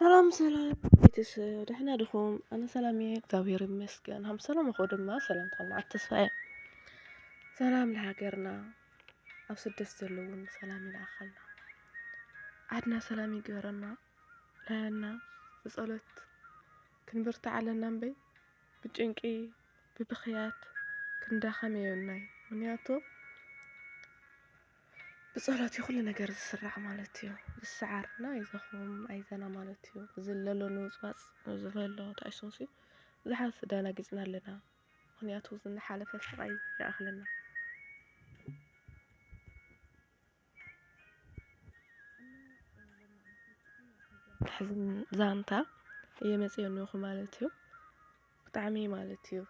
ሰላም ሰላም ቤተሰብ ደህና ድኹም? ኣነ ሰላም እየ እግዚኣብሔር ይመስገን ሃም ሰላም እኮ ድማ ሰላም ተስፋ እየ ሰላም ለሃገርና ኣብ ስደት ዘለዉ እውን ብሰላም ይልኣኸልና። ዓድና ሰላም ይግበረልና ራያና ብጸሎት ክንብርትዕ ኣለና እምበይ ብጭንቂ ብብኽያት ክንዳኸም የብልናይ ምክንያቱ ብጸሎት እዩ ኩሉ ነገር ዝስራዕ ማለት እዩ ዝሰዓርና ኣይዞኹም ኣይዘና ማለት እዩ እዚ ለሎ ንውጽዋጽ ዝበሎ ተኣሽቶሲ ብዙሓት ተዳናጊጽና ኣለና። ምኽንያቱ ዝንሓለፈ ስቓይ ይኣኽለና። ተሕዝኒ ዛንታ እየመፅኦኒኹ ማለት እዩ ብጣዕሚ ማለት እዩ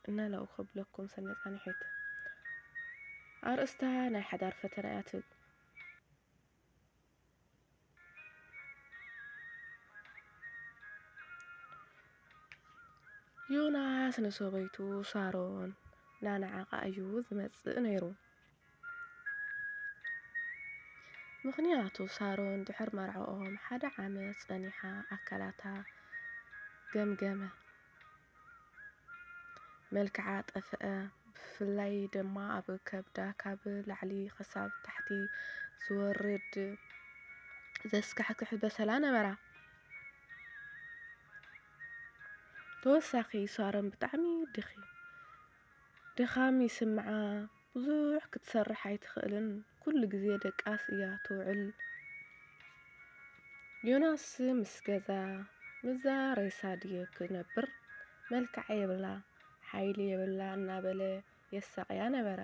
እና ላው ከብለኩም ሰነፃኒሒት ኣርእስታ ናይ ሓዳር ፈተና እያ ትብል ዮናስ ንሰበይቱ ሳሮን እናነዓቓ እዩ ዝመጽእ ነይሩ። ምኽንያቱ ሳሮን ድሕር መርዓኦም ሓደ ዓመት ጸኒሓ ኣካላታ ገምገመ። መልክዓ ጠፈኣ ብፍላይ ድማ ኣብ ከብዳ ካብ ላዕሊ ክሳብ ታሕቲ ዝወርድ ዘስካሕክሕ በሰላ ነበራ። ተወሳኺ ሳሮን ብጣዕሚ ድኺ ድኻም ይስምዓ። ብዙሕ ክትሰርሕ ኣይትኽእልን ኩሉ ግዜ ደቃስ እያ ትውዕል። ዮናስ ምስ ገዛ ምዛ ሬሳ ድየ ክነብር መልክዓ የብላ ሓይሊ የብላ እናበለ የሳቕያ ነበረ።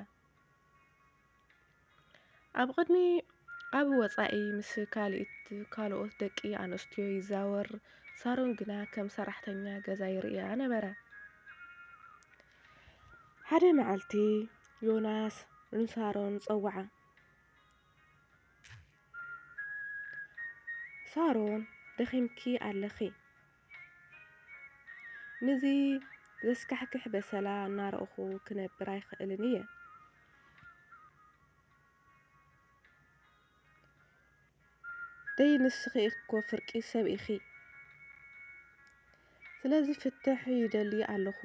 ኣብ ቅድሚ ኣብ ወጻኢ ምስ ካልኢት ካልኦት ደቂ ኣንስትዮ ይዛወር፣ ሳሮን ግና ከም ሰራሕተኛ ገዛ ይርእያ ነበረ። ሓደ መዓልቲ ዮናስ ንሳሮን ጸውዓ። ሳሮን ደኺምኪ ኣለኺ። ንዚ ዘስካሕክሕ በሰላ እናረእኹ ክነብር ኣይክእልን እየ። ደይ ንስኺ እኮ ፍርቂ ሰብ ኢኺ ስለዚ ፍትሕ ይደሊ ኣለኹ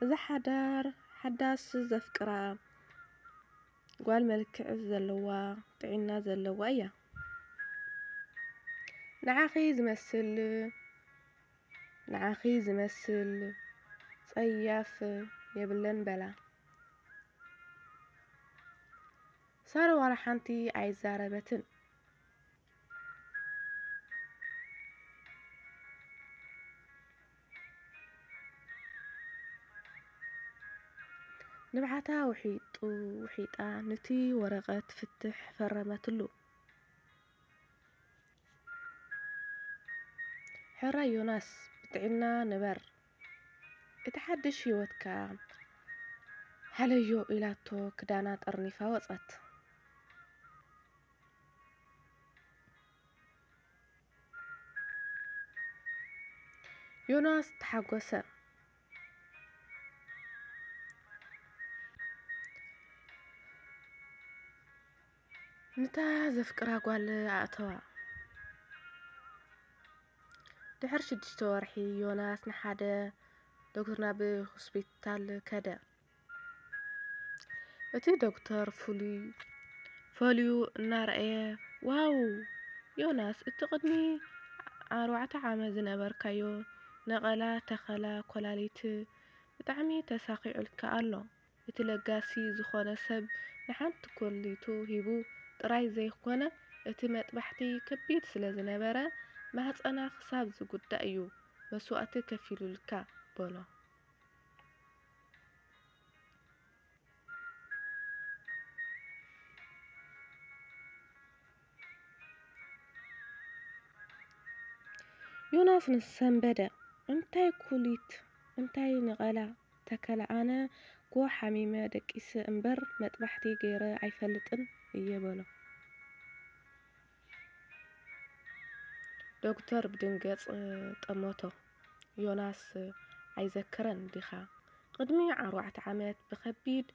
እዛ ሓዳር ሓዳስ ዘፍቅራ ጓል መልክዕ ዘለዋ ጥዒና ዘለዋ እያ ንዓኺ ዝመስል ንዓኺ ዝመስል ጸያፍ የብለን በላ ሳረ ዋላ ሓንቲ ኣይዛረበትን። ንብዓታ ውሒጡ ውሒጣ ኑቲ ወረቐት ፍትሕ ፈረመትሉ። ሕራይ ዮናስ ብጥዒና ንበር እቲ ሓድሽ ህይወትካ ሃለዮ ኢላቶ ክዳና ጠርኒፋ ወጸት። ዮናስ ተሓጎሰ። ንታ ዘፍቅራ ጓል ኣእተዋ። ድሕሪ ሽዱሽተ ወርሒ፣ ዮናስ ንሓደ ዶክተር ናብ ሆስፒታል ከደ። እቲ ዶክተር ፍሉይ ፈልዩ እናረኣየ፣ ዋው ዮናስ፣ እቲ ቅድሚ ኣርባዕተ ዓመት ዝነበርካዮ ነቐላ ተኸላ ኮላሊት ብጣዕሚ ተሳኺዑልካ ኣሎ። እቲ ለጋሲ ዝኾነ ሰብ ንሓንቲ ኮሊቱ ሂቡ ጥራይ ዘይኮነ እቲ መጥባሕቲ ከቢድ ስለ ዝነበረ ማህጸና ክሳብ ዝጉዳእ እዩ መስዋእቲ ከፊሉልካ በሎ። ዮናስ ንሰንበደ እንታይ ኩሊት እንታይ ንቐላ ተከለ ኣነ እኮ ሓሚመ ደቂሰ እምበር መጥባሕቲ ገይረ ኣይፈልጥን እየ በሎ። ዶክተር ብድንገጽ ጠመቶ። ዮናስ ኣይዘክረን ዲኻ ቕድሚ ዓርዋዕተ ዓመት ብከቢድ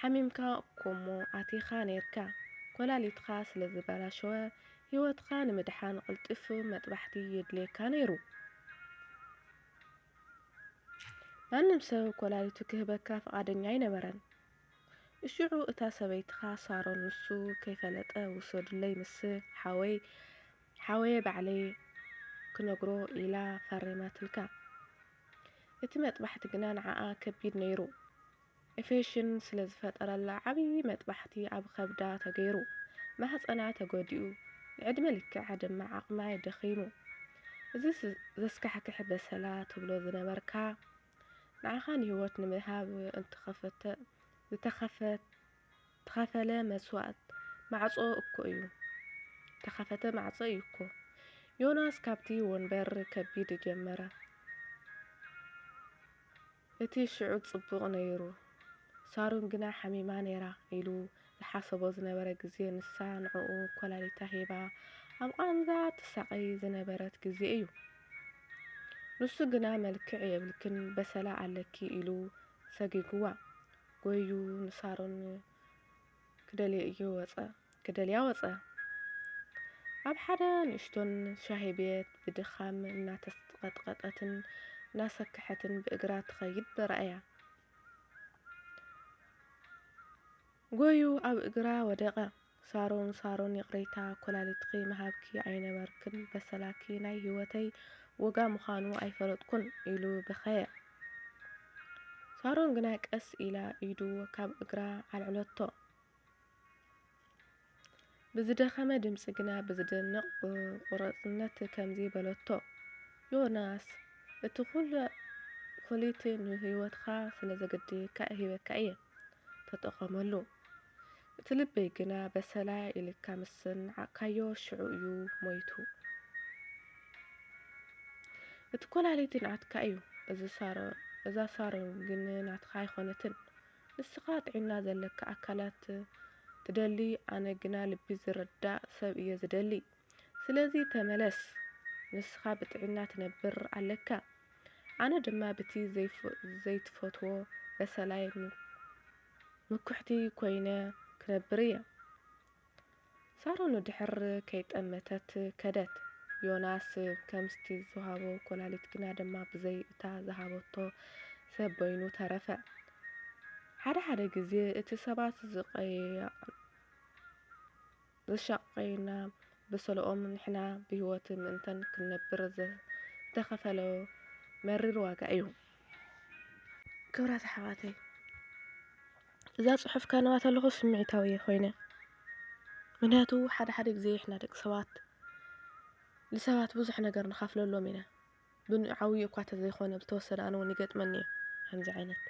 ሓሚምካ እኮ እሞ ኣቲኻ ነይርካ ኮላሊትኻ ስለ ዝበላሸወ ሂወትኻ ንምድሓን ቕልጡፍ መጥባሕቲ የድልየካ ነይሩ። ማንም ሰብ ኰላሊቱ ኪህበካ ፍቓደኛ ኣይነበረን። እሽዑ እታ ሰበይትኻ ሳሮን ንሱ ከይፈለጠ ውሰዱለይ ምስ ሓወይ ሓወየ ባዕለይ ክነግሮ ኢላ ፈሪማትልካ። እቲ መጥባሕቲ ግና ንዓኣ ከቢድ ነይሩ። ኢፌሽን ስለዝፈጠረላ ዓብዪ መጥባሕቲ ኣብ ኸብዳ ተገይሩ፣ ማህፀና ተጎዲኡ፣ ንዕድመ ልክዓ ድማ ዓቕማ ደኺሙ። እዚስ ዘስካሕክሕ በሰላ ትብሎ ዝነበርካ፣ ንዓኻ ንህይወት ንምሃብ እንተኸፈተ ዝተኸፈለ መስዋእት ማዕፆ እኮ እዩ። ዝተኸፈተ ማዕፆ እዩ እኮ። ዮናስ ካብቲ ወንበር ከቢድ ጀመረ። እቲ ሽዑ ጽቡቕ ነይሩ፣ ሳሮን ግና ሓሚማ ነይራ ኢሉ ዝሓሰቦ ዝነበረ ግዜ ንሳ ንዕኡ ኮላሊታ ሂባ ኣብ ቓንዛ ትሳቐይ ዝነበረት ግዜ እዩ። ንሱ ግና መልክዕ የብልክን በሰላ ኣለኪ ኢሉ ሰጊጉዋ ጎይዩ ንሳሮን ክደልዮ እዩ ወጸ ክደልያ ወጸ። ኣብ ሓደ ንእሽቶን ሻሂ ቤት ብድኻም እናተስቀጥቀጠትን እናሰከሐትን ብእግራ ትኸይድ በራእያ። ጎዩ ኣብ እግራ ወደቐ። ሳሮን ሳሮን ይቕሬታ ኮላሊትኺ ምሃብኪ ኣይነበርክን በሰላኪ ናይ ሂወተይ ወጋ ምዃኑ ኣይፈለጥኩን ኢሉ በኸየ። ሳሮን ግና ቀስ ኢላ ኢዱ ካብ እግራ ኣልዕለቶ። ብዝደኸመ ድምጺ ግና ብዝደንቕ ቁርጽነት ከምዚ በለቶ፣ ዮናስ፣ እቲ ኵሉ ኵሊት ንህይወትካ ስለ ዘገድየካ ሂበካ እየ። ተጠቐመሉ። እቲ ልበይ ግና በሰላ ኢልካ ምስ ናዓቕካዮ ሽዑ እዩ ሞይቱ። እቲ ኮላሊቲ ናትካ እዩ፣ እዛ ሳሮ ግን ናትካ ኣይኮነትን። ንስኻ ጥዒና ዘለካ ኣካላት ትደሊ ኣነ ግና ልቢ ዝርዳእ ሰብ እየ ዝደሊ። ስለዚ ተመለስ ንስኻ ብጥዒና ትነብር ኣለካ ኣነ ድማ ብቲ ዘይትፈትዎ በሰላይ ምኩሕቲ ኮይነ ክነብር እየ። ሳሮን ድሕር ከይጠመተት ከደት። ዮናስ ከምስቲ ዝሃቦ ኮላሊት ግና ድማ ብዘይ እታ ዝሃበቶ ሰብ በይኑ ተረፈ። ሓደ ሓደ ግዜ እቲ ሰባት ዝቀየየቅን። ዘሻቀዩና በሰለኦም ንሕና ብህይወት ምእንተን ክንነብር ዝተኸፈለ መሪር ዋጋ እዩ። ክብራት ኣሕዋተይ እዛ ጽሑፍ ከንባ ተለኹ ስምዒታዊ እየ ኮይነ ምክንያቱ ሓደ ሓደ ግዜ ንሕና ደቂ ሰባት ንሰባት ብዙሕ ነገር ንኸፍለሎም ኢና። ብዓብይኡ እኳ እንተዘይኮነ ብዝተወሰነ ኣነ እውን ይገጥመኒ እዩ ከምዚ ዓይነት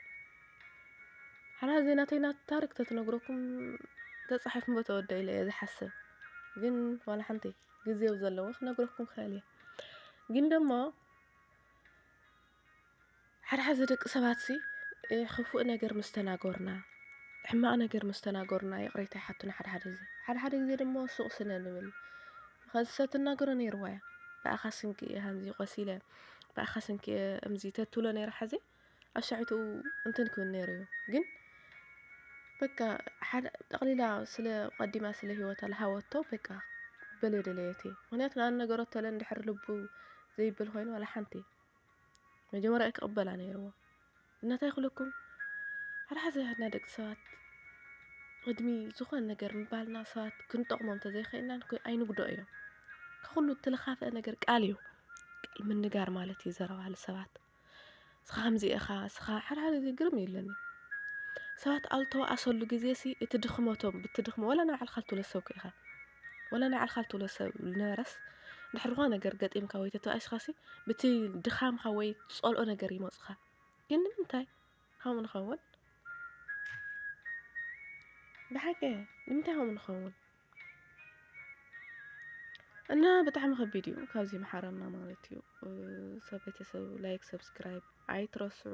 ሓራ እዚ ናተይ ናት ታሪክ ተትነግረኩም ተፃሒፍኩምቦ ተወደ ኢለ እየ ዝሓስብ ግን ዋላ ሓንቲ ግዜ ኣብ ዘለዎ ክነግረኩም ክኽእል እየ ግን ደሞ ሓድሓዚ ደቂ ሰባትሲ ኽፉእ ነገር ምስ ተናገሩና፣ ሕማቕ ነገር ምስ ተናገሩና ይቕሬታ ይሓቱና ሓድሓደ ግዜ። ሓድሓደ ግዜ ድማ ሱቕ ስለ ንብል፣ ኸዚ ሰብ ትናገሮ ነይርዋ'ያ፣ ብኣኻ ስንኪ'የ ሃምዚ ቆሲለ፣ ብኣኻ ስንኪ'የ እምዚ ተትብሎ ነይራ ሕዚ ኣብ ሻዕብትኡ እንትን ክብል ነይሩ'ዩ። ግን በቃ ሓደ ጠቕሊላ ስለ ቀዲማ ስለ ህይወታ ልሃወቶ በቃ በለ ደለየት'የ። ምኽንያቱ ንኣንነገረቶ እለ እንድሕሪ ልቡ ዘይብል ኾይኑ ዋላ ሓንቲ። መጀመርያ ክቕበላ ነይርዎ እና እንታይ ክብለኩም ሓድሓደ ግዜ ንሕና ደቂ ሰባት ቅድሚ ዝኾነ ነገር ምባልና ሰባት ክንጠቕሞም እንተዘይኸኢልና ኣይንጉድኦ እዮም ካብ ኩሉ እትልኻፈ ነገር ቃል እዩ ቃል ምንጋር ማለት እዩ ዘረባ ንሰባት እስኻ ከምዚ ኢኻ እስኻ ሓድሓደ ግዜ ግርም እዩ ኢለኒ ሰባት ኣብ ዝተዋኣሰሉ ግዜ ሲ እቲ ድኽመቶም ብቲ ድኽመ ወላ ንባዕልኻ ልትብለሰኩ ኢኻ ወላ ናይ ባዕልኻ እትብሎ ሰብ ዝነበረስ ድሕሪ ዝኾነ ነገር ገጢምካ ወይ ተተባኢስካሲ ብቲ ድኻምካ ወይ ትጸልኦ ነገር ይመጹኻ ግን ንምንታይ ከምኡ ንኸውን ብሓቂ ንምንታይ ከምኡ ንኸውን እና ብጣዕሚ ከቢድ እዩ ካብዚ መሓረና ማለት እዩ ሰብ ቤተሰብ ላይክ ሰብስክራይብ ኣይትረስዑ